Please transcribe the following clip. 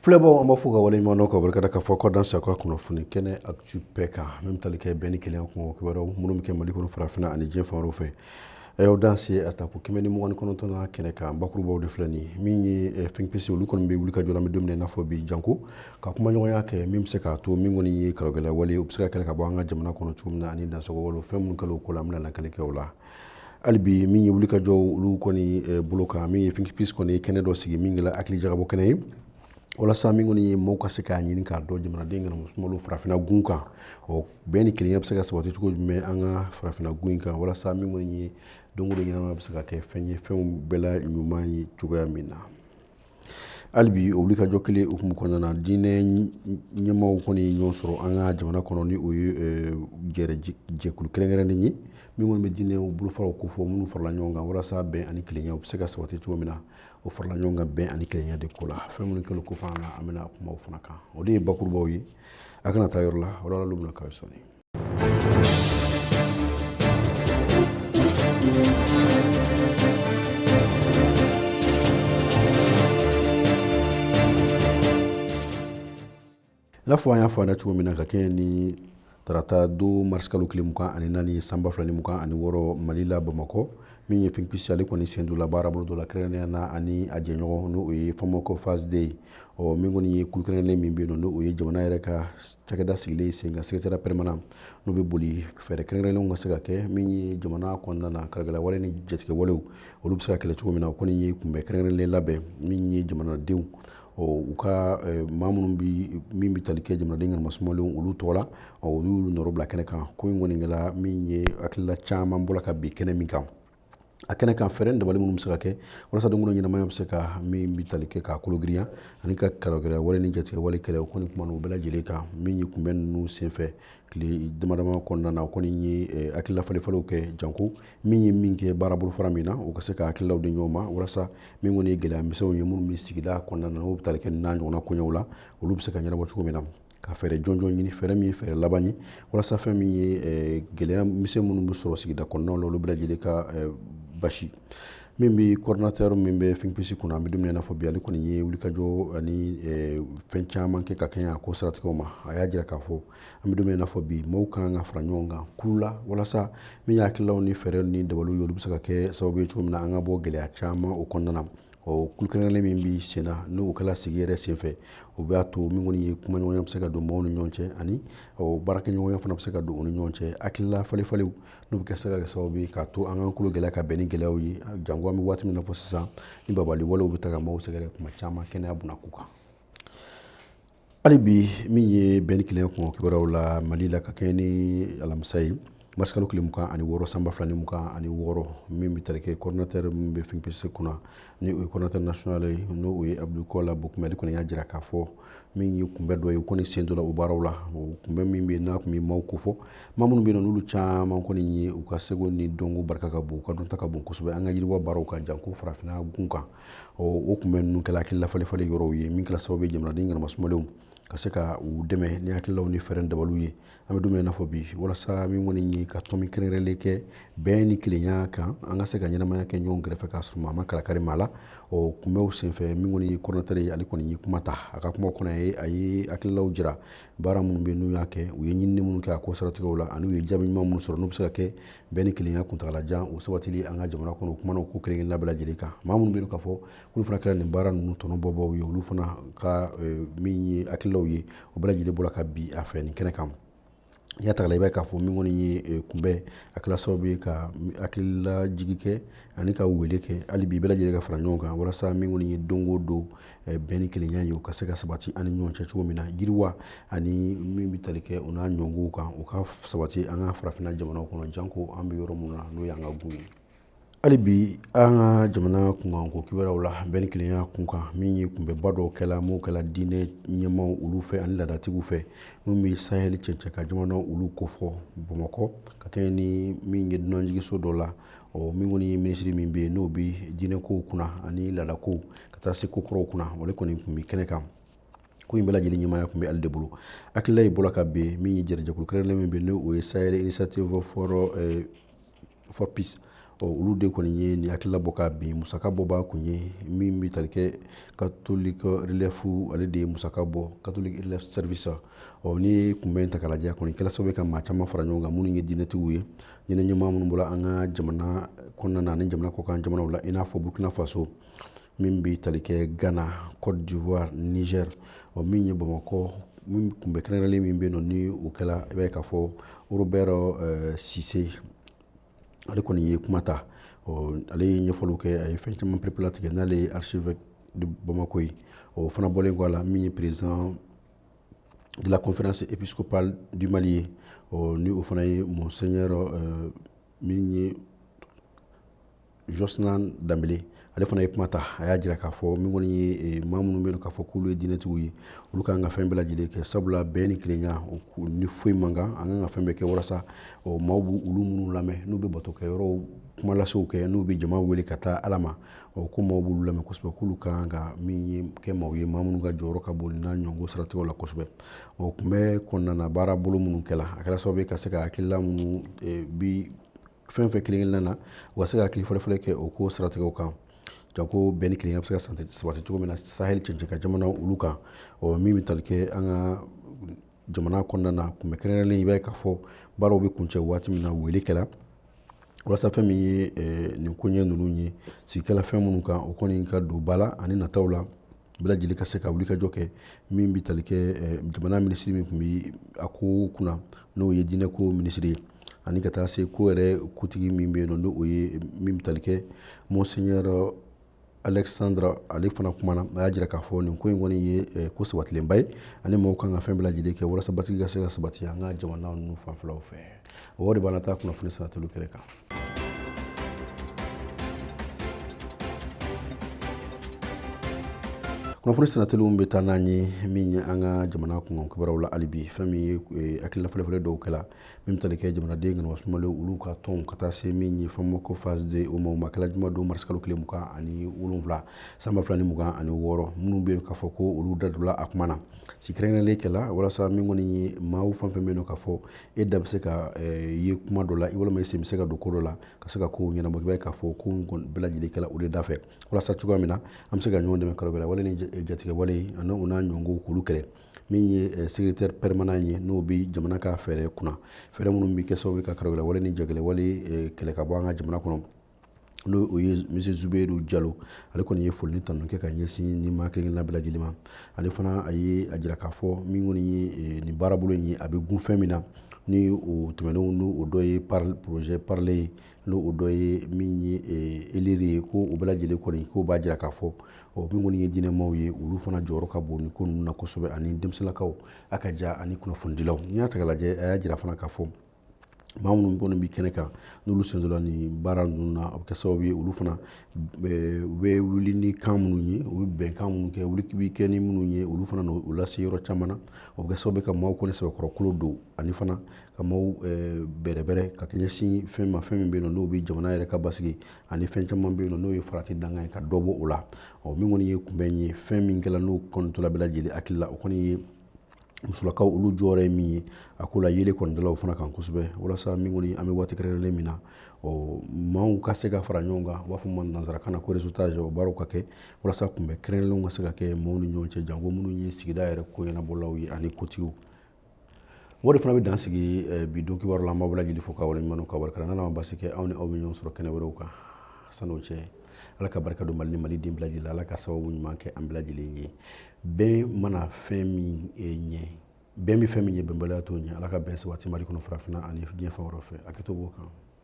Filɛbaaw an b'aw fo ka waleɲumandɔn ka barika da k'a fɔ k'aw dansɛ an ka kunnafoni kɛnɛ actu bɛɛ kan min bɛ tali kɛ bɛn ni kelenya kun kibaruyaw minnu bɛ kɛ mali kɔnɔ farafinna ani diɲɛ fan wɛrɛw fɛ aw dansɛ a tako kɛmɛ ni mugan ni kɔnɔntɔn kɛnɛ kan bakurubaw de filɛ nin min ye Think Peace olu kɔni bɛ wuli ka jɔ an bɛ don min i n'a fɔ bi janko ka kumaɲɔgɔnya kɛ min bɛ se k'a to min kɔni ye karagɛlɛya wale u bɛ se ka kɛlɛ ka bɔ an ka jamana kɔnɔ cogo min na ani dansago wale fɛn minnu kɛlen ko la an bɛna lakali kɛ o la hali bi min ye wuli ka jɔ olu kɔni eh, bolo kan min ye Think Peace kɔni ye kɛnɛ dɔ sigi min kɛla hakili jagabɔ kɛnɛ ye walasa min kɔni ye mɔgɔw ka se k'a ɲini k'a dɔn jamanaden ŋana musomanw farafinna gun kan ɔ bɛn ni kelenya bɛ se ka sabati cogo jumɛn an ka farafinna gun in kan walasa min kɔni ye don o don ɲɛnamaya bɛ se ka kɛ fɛn ye fɛnw bɛɛ la ɲuman ye cogoya min na hali bi o wuli ka jɔ kelen hukumu kɔnɔna na diinɛ ɲɛmaaw kɔni ye ɲɔgɔn sɔrɔ an ka jamana kɔnɔ ni o ye eh, jɛrɛ jɛkulu kɛrɛnkɛrɛnnen ye min kɔni bɛ diinɛw bolofaraw ko fɔ minnu farala ɲɔgɔn kan walasa bɛn ani kelenya u bɛ se ka sabati cogo min na o farala ɲɔgɔn kan bɛn ani kelenya de ko la fɛn minnu kɛlen ko fana na an bɛna kuma o fana kan o de ye bakurubaw ye a kana taa yɔrɔ la o lakali bɛna k'aw ye sɔɔni n'a fɔ an y'a fɔ aw ɲɛna cogo min na ka kɛɲɛ ni tarata don marisikalo tile mugan ani naani san ba fila ni mugan ani wɔɔrɔ mali la bamakɔ min ye Think Peace ale kɔni sen donna baarabolo dɔ la kɛrɛnkɛrɛnnenya na ani a jɛɲɔgɔn n'o ye FAMOC phase deux ye ɔ min kɔni ye kulu kɛrɛnkɛrɛnnen min bɛ yen nɔ n'o ye jamana yɛrɛ ka cakɛda sigilen sen kan secrétariat permanent n'o bɛ boli fɛɛrɛ kɛrɛnkɛrɛnnenw ka se ka kɛ min ye jamana kɔnɔna na karagɛlɛya wale ni jatigɛwalew olu bɛ se ka kɛlɛ cogo min na o kɔni ye kunbɛn kɛrɛnkɛrɛnnen labɛn min ye jamanadenw ɔ u ka maa minnu bɛ min bɛ tali kɛ jamanaden ŋana musomanw olu tɔgɔ la ɔ olu y'olu nɔrɔ bila kɛnɛ kan ko in kɔni kɛla min ye hakilila caman bɔra ka bin kɛnɛ min kan a kɛnɛ kan fɛɛrɛ dabali minnu bɛ se ka kɛ walasa don o don ɲɛnamaya bɛ se ka min bɛ tali kɛ k'a kolo girinya ani ka karagɛlɛya wale ni jatigɛ wale kɛlɛ o kɔni kuma n'u bɛɛ lajɛlen kan min ye kunbɛn ninnu senfɛ tile damadama kɔnɔna na o kɔni ye eh, hakilila falenfalenw kɛ janko min ye min bɛ baara bolofara min na o ka se ka hakililaw di ɲɔgɔn ma walasa min kɔni ye gɛlɛya misɛnw ye minnu bɛ sigida kɔnɔna na n'o bɛ tali kɛ nin ɲɔgɔnna koɲɛw la olu bɛ se ka ɲɛnabɔ cogo min na ka fɛɛrɛ jɔnjɔn ɲini fɛɛrɛ min ye fɛɛrɛ laban ye walasa fɛn min ye eh, gɛlɛya misɛn minnu bɛ sɔrɔ sigida kɔnɔnaw la olu bɛɛ lajɛlen ka eh, basi min bɛ coordinateur min bɛ Think Peace kunna an bɛ don min i n'a fɔ bi ale kɔni ye wulikajɔ ani eh, fɛn caman kɛ ka kɛɲɛ a ko siratigɛw ma a y'a jira k'a fɔ an bɛ don min i n'a fɔ bi mɔgɔw ka kan ka fara ɲɔgɔn kan kulu la walasa min ye hakililaw ni fɛɛrɛ ni dabaliw ye olu bɛ se ka kɛ sababu ye cogo min na an ka bɔ gɛlɛya caman o kɔnɔna na ɔ kulu kɛrɛnkɛrɛnnen min bɛ sen na n'o kɛla sigi yɛrɛ senfɛ o b'a to min kɔni ye kumaɲɔgɔnya bɛ se ka don mɔgɔw ni ɲɔgɔn cɛ ani baarakɛɲɔgɔnya fana bɛ se ka don u ni ɲɔgɔn cɛ hakilila falenfalenw n'u bɛ kɛ se ka kɛ sababu ye k'a to an k'an kologɛlɛya ka bɛn ni gɛlɛyaw ye janko an bɛ waati min na fɔ sisan ni babali walew bɛ taa ka maaw sɛgɛrɛ kuma caman kɛnɛya bunako kan hali bi min ye bɛn ni kelenya kunko kibaruyaw la mali la ka kɛ ni alamisa ye marisikalo tile mugan ani wɔɔrɔ san ba fila ni mugan ani wɔɔrɔ min bɛ tali kɛ coordinateur min bɛ think peace kunna ni o ye coordinateur national ye n'o ye abdou kola bocoum ale kɔni y'a jira k'a fɔ min ye kunbɛ dɔ ye o kɔni sen dɔla o baaraw la o kunbɛ min bɛ yen n'a tun bɛ maaw kofɔ maa minnu bɛ yen n'olu caman kɔni ye u ka seko ni dɔnko barika ka bon u ka dɔnta ka bon kosɛbɛ an ka yiriwa baaraw kan janko farafinna gun kan o kunbɛ ninnu kɛla hakilila falenfalen yɔrɔw ye min kɛla sababu ye jamanaden ŋanamasumalew ka se ka u dɛmɛ ni hakililaw ni fɛɛrɛ dabaliw ye an bɛ don min na i n'a fɔ bi walasa min kɔni ye ka tomi kɛrɛnkɛrɛnlen kɛ bɛn ni kelenya kan an ka se ka ɲɛnamaya kɛ ɲɔgɔn kɛrɛfɛ k'a sɔrɔ maa ma kalakari maa la o kunbɛw senfɛ min kɔni ye coordinateur ye ale kɔni ye kuma ta a ka kuma kɔnɔ yen a ye hakililaw jira baara minnu bɛ n'u y'a kɛ u ye ɲinini minnu kɛ a ko siratigɛw la ani u ye jaabi ɲuman minnu sɔrɔ n'u bɛ se ka kɛ bɛn ni kelenya kuntagala jan o sabatili an ka jamana kɔnɔ kumana ko kelen kelenna bɛɛ lajɛlen kan maa minnu bɛ yen k'a fɔ olu fana kɛra nin baara ninnu tɔnɔbɔbaaw ye olu fana ka eh, min ye hakililaw ye o bɛɛ lajɛlen bɔra ka bin a fɛ nin kɛnɛ kan n'i y'a ta k'a lajɛ i b'a k'a fɔ min kɔni ye eh, kunbɛn a kɛla sababu ye ka hakililajigin kɛ ani ka wele kɛ hali bi bɛɛ lajɛlen ka fara ɲɔgɔn kan walasa min kɔni ye don o don Eh, bɛn ni kelenya ye o ka se ka sabati an ni ɲɔgɔn cɛ cogo min na yiriwa ani min bɛ tali kɛ o n'a ɲɔgɔnkow kan o ka sabati an ka farafinna jamanaw kɔnɔ janko an bɛ yɔrɔ min na n'o y'an ka gun ye hali bi an ka jamana kunkanko kibaruyaw la bɛn ni kelenya kunkan min ye kunbɛba dɔw kɛla n'o kɛla diinɛ ɲɛmaaw olu fɛ ani laadatigiw fɛ minnu bɛ sahɛli cɛncɛn kan jamanaw olu kofɔ bamakɔ ka kɛɲɛ ni min ye dunanjigiso dɔ la ɔ min kɔni ye minisiri min bɛ yen n'o bɛ diinɛkow kunna ani laadakow ka taa se ko kɔrɔw kunna o de kɔni tun bɛ kɛnɛ kan ko in bɛɛ lajɛlen ɲɛmaaya tun bɛ ale de bolo hakilila in bɔra ka bin min ye jɛkulu kɛrɛnkɛrɛnnen min bɛ yen n'o ye sahel initiative for eh, for peace ɔ olu de kɔni ye nin hakilila bɔ ka bin musaka bɔbaa tun ye min bɛ tali kɛ catholic relief ale de ye musaka bɔ catholic relief service ɔ ni kunbɛn ta k'a lajɛ kɔni kɛla sababu ye ka maa caman fara ɲɔgɔn kan minnu ye diinɛtigiw ye diinɛ ɲɛmaa minnu bɔla an ka jamana kɔnɔna na ani jamana kɔkan jamanaw la i n'a fɔ burkina faso min bɛ tali kɛ ghana cote d'ivoire niger ɔ min ye bamakɔ min kunbɛ kɛrɛnkɛrɛnlen min bɛ yen nɔ ni o kɛla i b'a ye k'a fɔ robert eh, cissé ale kɔni ye kuma ta ɔ ale ye ɲɛfɔliw kɛ a ye fɛn caman perepelatigɛ n'ale ye archevêque de bamako ye o fana bɔlen kɔ a la min ye président de la conférence épiscopale du Mali ye ni o fana ye monseigneur euh, min ye Josnan Dambele ale fana ye kuma ta a y'a jira k'a fɔ min kɔni ye eh, maa minnu bɛ yen k'a fɔ k'olu ye diinɛtigiw ye olu ka kan ka fɛn bɛɛ lajɛlen kɛ sabula bɛn ni kelenya ni foyi man kan an kan ka fɛn bɛɛ kɛ walasa ɔ maaw b'olu minnu lamɛn n'u bɛ batokɛyɔrɔw kumalasew kɛ n'u bɛ jama wele ka taa ala ma ɔ ko maaw b'olu lamɛn kosɛbɛ k'olu ka kan ka min ye kɛ maaw ye maa minnu ka jɔyɔrɔ ka bon n'a ɲɔgɔn siratigɛw la kosɛbɛ o kunbɛn kɔnɔna na baarabolo minnu kɛla a kɛra sababu ye ka se ka hakilila minnu e, bi fɛn fɛn kelen kelenna na u ka se ka hakili falenfalen kɛ o ko siratigɛw kan janko bɛn ni kelenya bɛ se ka sabati cogo min na sahel cɛncɛn kan jamana olu kan ɔ min bɛ tali kɛ an ka jamana kɔnɔna na kunbɛn kɛrɛnkɛrɛnlen i b'a ye k'a fɔ baaraw bɛ kuncɛ waati min na wele kɛla walasa fɛn min ye eh, nin koɲɛ ninnu ye sigi kɛla fɛn minnu kan o kɔni ka don ba la ani nataw la bɛɛ lajɛlen ka se ka wulikajɔ kɛ min bɛ tali kɛ eh, jamana minisiri min tun bɛ a ko kunna n'o ye diinɛko minisiri ye ani ka taa se ko yɛrɛ kuntigi min bɛ yen nɔ n'o ye min bɛ tali kɛ monseigneur Alexandre ale fana kumana a y'a jira k'a fɔ nin ko in kɔni ye eh, ko sabatilenba ye ani maaw kan ka fɛn bɛɛ lajɛlen kɛ walasa basigi ka se ka sabati an ka jamana ninnu fanfɛlaw fɛ o de b'an na taa kunnafoni sennateliw kɛrɛ kan kunnafoni sennateliw bɛ taa n'an ye min ye an ka jamana kunkan kibaruyaw la hali bi fɛn min ye eh, hakilila falenfalen dɔw kɛla min bɛ tali kɛ jamanaden ŋana wasumalen olu ka tɔnw ka taa se min ye FAMOC phase deux o ma ma kɛla juma don marisikalo tile mugan ani wolonwula sanba fila ni mugan ani wɔɔrɔ minnu bɛ yen k'a fɔ ko olu da donna a kuma na sigi kɛrɛnkɛrɛnlen kɛla walasa min kɔni ye maaw fɛn fɛn bɛ yen nɔ k'a fɔ e da bɛ se ka eh, ye kuma dɔ la i walima i sen bɛ se ka don ko dɔ la ka se ka kow ɲɛnabɔ i b'a ye k'a fɔ ko bɛɛ lajɛlen kɛla o de da fɛ walasa cogoya min na an bɛ se ka ɲɔgɔn dɛmɛ karagɛlɛwale ni jatigɛwale ani u n'a ɲɔgɔnko k'olu kɛlɛ min ye secrétaire permanent ye n'o bɛ jamana ka fɛɛrɛ kunna fɛɛrɛ minnu bɛ kɛ sababu ye ka karagɛlɛwale ni jagɛlɛwale kɛlɛ ka bɔ an ka jamana kɔnɔ n'o o ye monsieur Zubairu Jalo ale kɔni ye foli ni tanuni kɛ ka ɲɛsin nin maa kelen-kelenna bɛɛ lajɛlen ma ale fana a ye a jira k'a fɔ min kɔni ye nin baarabolo in ye a bɛ tugun fɛn min na ni o tɛmɛnenw n'o o dɔ ye projet parler ye n'o o dɔ ye min ye eh, eleri ye ko o bɛɛ lajɛlen kɔni k'o b'a jira k'a fɔ ɔ min kɔni ye diinɛmaw ye olu fana jɔyɔrɔ ka bon nin ko ninnu na kosɛbɛ ani denmisɛnninlakaw a ka ja ani kunnafonidilaw n'i y'a ta k'a lajɛ a y'a jira fana k'a fɔ maa minnu kɔni bɛ kɛnɛ kan n'olu sen donna nin baara ninnu na a bɛ kɛ sababu ye olu fana eh, u bɛ wuli ni kan minnu ye u bɛ bɛnkan minnu kɛ wuli bɛ kɛ ni minnu ye olu fana na u lase yɔrɔ caman na o bɛ kɛ sababu ye ka maaw kɔni sɛbɛkɔrɔ kolo don ani fana ka maaw eh, bɛrɛbɛrɛ ka ɲɛsin fɛn ma fɛn min bɛ yen nɔ n'o bɛ jamana yɛrɛ ka basigi ani fɛn caman bɛ yen nɔ n'o ye farati danga ye ka dɔ bɔ o la ɔ min kɔni ye kunbɛn ye fɛn min kɛra n'o kɔni tola bɛɛ lajɛlen hakili la o kɔni ye musolakaw olu jɔyɔrɔ ye min ye a ko la yeelen kɔni dala u fana kan kosɛbɛ walasa min kɔni an bɛ waati kɛrɛnkɛrɛnlen min na ɔ maaw ka se ka fara ɲɔgɔn kan u b'a fɔ ma nanzarakan na ko réseautage o baaraw ka kɛ walasa kunbɛn kɛrɛnkɛrɛnlenw ka se ka kɛ maaw ni ɲɔgɔn cɛ janko minnu ye sigida yɛrɛ ko ɲɛnabɔlaw ye ani kotigiw o de fana bɛ dan sigi eh, bi don kibaru la an b'aw bɛɛ lajɛlen fo k'aw wale ɲuman dɔn ka barika da n'ala ma basi kɛ anw ni aw bɛ ɲɔgɔn sɔrɔ kɛnɛ wɛrɛw kan san'o cɛ ala ka barika don mali ni maliden bɛɛ lajɛlen la ala ka sababu ɲuman kɛ an bɛɛ lajɛlen ye bɛn mana fɛn min eh, ɲɛ bɛn bɛ fɛn min ɲɛ bɛnbaliya t'o ɲɛ ala ka bɛn sabati mali kɔnɔ farafinna ani diɲɛ fan wɛrɛ fɛ a kɛ to b'o kan